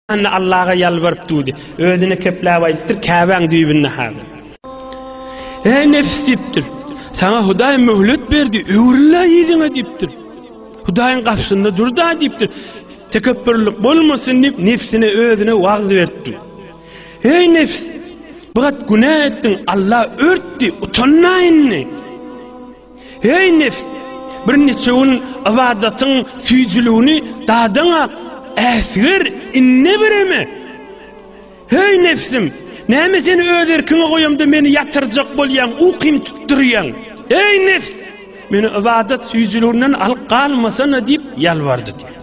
Anna Allaha ýalbaryp duýdy. Özüne kepläp aýdypdyr, Käbäň düýbünde hady. Eý nefs diýipdir. Saňa Hudaý möhlet berdi, öwrüllä ýüzüňe diýipdir. Hudaýyň garşysynda durda diýipdir. Tekepburlyk bolmasyn diýip nefsine özüne wagz berdi. Eý nefs, bu gat günä etdiň, Allah örtdi, utanma indi. Heý nebs! Birnäçe gün ybadatyň süýjüligini dadaň-a, äsger, indi bireme! Heý nebsim! Näme seni öz erkiňe goýamda meni ýatyrjak bolýaň, ukym tutdurýaň? Heý nebs! Meni ybadat süýjüliginden alyp galmasana diýip ýalbardy diýýär.